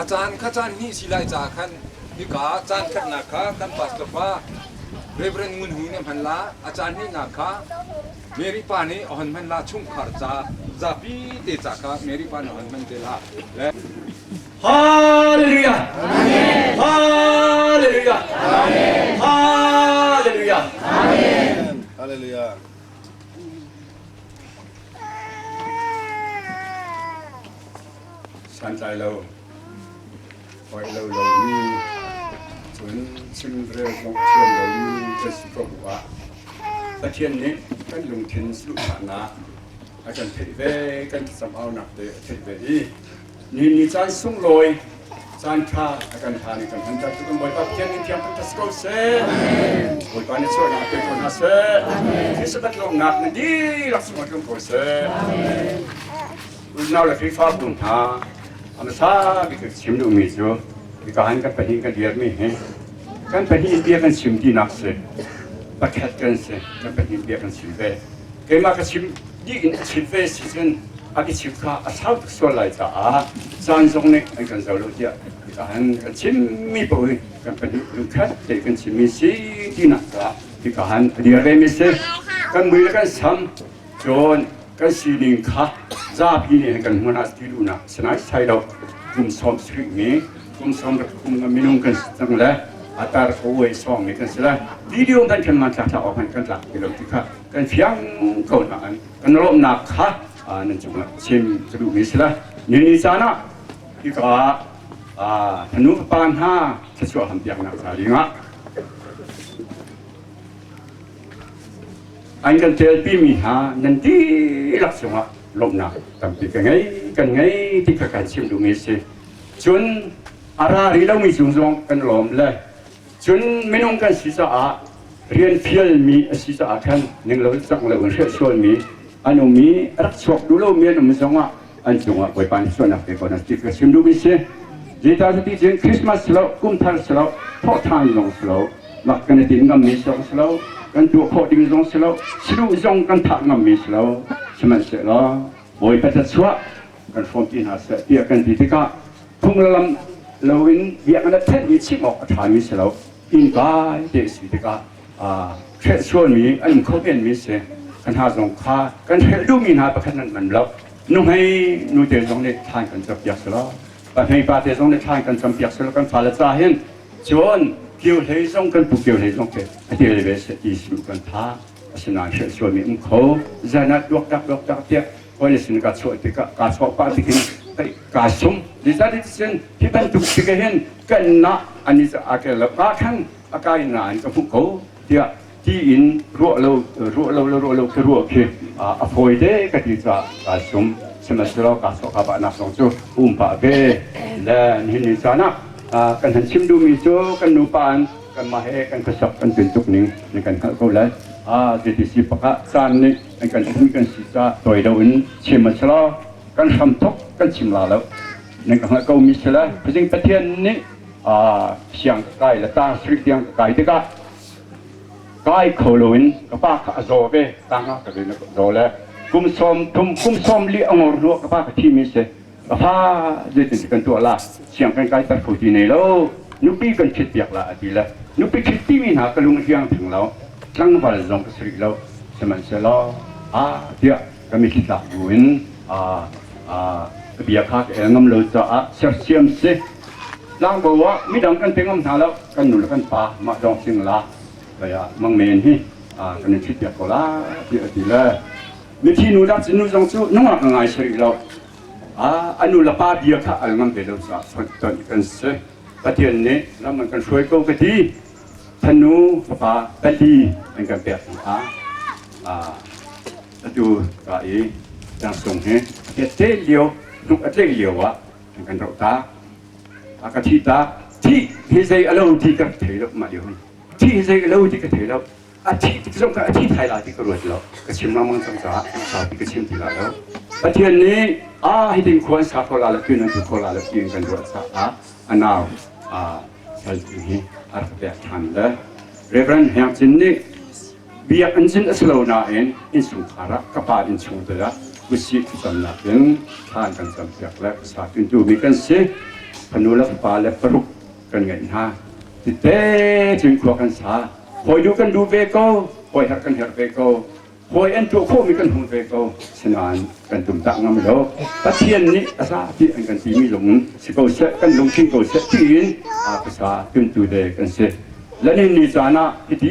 A caan kha caan hnih si lai caah khan hika caan khatnak kha kan pastor pa Rev. Ngun Hui nih hman la, a caan hnihnak kha Mary pa nih a hon hman la chungkhar ca zapi te ca kha Mary pa nih a hon hman te la. Hallelujah! Hallelujah! Hallelujah! Hallelujah. santlai lo, hoi lo lomi, cun chimrel zong thiam lomi kan si ko bu ah Pathian nih kan lungthin luhsaknak a kan theih ve kan samaunak te a theih ve i ni ni caan sunglawi caan ṭha a kan ṭha ni kan hmanter cu kan Bawipa Pathian nih thiang fantas ko seh Bawipa nih sualnak pe ko hna seh Sabbath lawmnak na dirak sungah kan ko seh unau le Khrihfabu hna a hmasa bik ka chim duhmi cu kaan kan pahnih kan dirmi hi kan pahnih bia kan chim tinak si pakhat kan si kan pahnih bia kan chim ve keimah ka chim dih in a chim ve si cun a ka chim kha a sau tuk sual lai caah caan zong nih an kan zo lo tiah kaan kan chimmi paoh hi kan pahnih lungkhat te kan chimmi si tinak caah kaan a dir ve mi si kan mui le kan sam cun kan sining kha zapi nih an kan hmuan ah ti duhnak si nai sai lo kum sawm sarih mi kum sawm ruk kum minung kan si cang le a tar ko uai sawm mi kan si le video hmanh kan man tlak tlak awk hmanh kan tlak ti lo ti kha kan fiang ko na an kan lawmnak kha nan cung chim ka duh mi si le ni caan ah hika hanu fapa hna thachuah hampiaknak hna ringah An kan ṭialpi mi hna nan dihlak cungah lawmhnak tampi ka ngei, kan ngei ti kha kan chim duhmi a si. Cun a ra rih lomi cung zong kan lawm le cun minung kan si caah rian fialmi a si caah khan ninglo canglo in hriah sualmi an um i rak chuak duh lomi an um zongah an cungah bawipa nih sualnak te ko nan ti ka chim duhmi si zeicah cuti cun Christmas si lo kumthar si lo thawhṭhan zong si lo lak kan i din ngammi zong si lo kan tuah khawh ding zong si lo siduh zong kan thah ngammi si lo sihmanhsehlaw bawipa cachuah kan hrawmpi hna seh tiah kan ti tikah phung le lam loin biaknak thenh i chimh awk a ṭhami si lo inn kai te a si tikah hrehsualmi an khokenmi si ka hna zong kha kan hrelh duhmi hna pakhat nan man lo nuhmei nute zong nih thlan kan campiak silo pahnei pate zong nih thlan kan campiak silo kan fale ca hin cun kio hlei zong kan pu kio hlei zong ke a tial ve se ti sinu kan tha asinain hrehsualmi um kho zana tuak tak tuak tak tiah hoi le sin ka chuah tikah ka chuah pa tikin ka sum dizan sin hi bantuk tika hin kan na ani a ke lo ka khan a kai nain ka hmuh ko tiah tiin ruah lo ruah lo le ruah lo khi ruah khi a fawi de ka ti caah kaa sum sihmanhsehlaw kaa sawk a bahnak zong cu um pah ve le nihin ni caan ah kan han chim duhmi cu kan nupa in kanmah he kan khuasak kan tlun tuk ning nan kan hngalh ko lai ZDC pakah caan nih an kan phun kan si ca tawi loin sihmanhsehlaw kan hram thok kan chim la lo nan ka hngalh ko mi si le khuazing pathian nih thiang ka kai le tang sui tiang ka kai tikah kai kho loin ka pa kha a zaw ve tang ah ka bin a zaw le kum sawm kum kum sawm li a ngor hnu ka pa ka thi mi se ka fa zeitin kan tuah la siang kan kai tar phu ti nei lo nupi kan thit piak la a ti le nupi thit ti mi hna ka lung hiang theng lo tlangval zong ka sri lo sihmanhsehlaw a tiah kan i hlitlak buin ka bia kha ka el ngam lo caah sersiam si. Tlangbo ah midang kan pe ngam hna lo, kan nu le kan pa mah dawng singla kei ah mang men hi kan in thitpiak ko la ti a ti le mithi nu dah nu zong cu nungak a ngai si rih lo a nu le pa bia kha al ngam ve lo caah chawnh kan si Pathian nih lam an kan hruai ko ka ti Fanu fapa pali an kan pek hnu ah atu ka i Tlang Cung hi a kette lio hnuk a tleih lio ah an kan roh ta. A ka thi ta. Thi hi zei a lo ti ka thei lo mah lio hin. Thi hi zei a lo ti ka thei lo. A thi zong ka a thi thai la ti ka ruat lo. Ka chim lengmang cang caah sau ti ka chim ti la lo. Pathian nih a hitin khua an sa kho la le tun an tu kho la le ti in kan ruat caah a nau saltimi a rak pek ṭhan le Rev. Hniang Cin nih biakinn cin a si lo nain innchungkhar ah ka pa innchungte ah kusih thlacamnak in thla an kan campiak le pasal pintu mi kan si fanu le fapa le paruk kan ngeih hna tite cun khua kan sa hawinu kan lu ve ko hawi herh kan herh ve ko Hawi an tuah khawhmi kan hmu ve ko. Asinain kan tumtah ngam lo. Pathian nih a hla ti an kan timi lungin si ko seh, kan lungthin ko seh tiin a pasa tuntu le kan si. Zanin ni caan ah hiti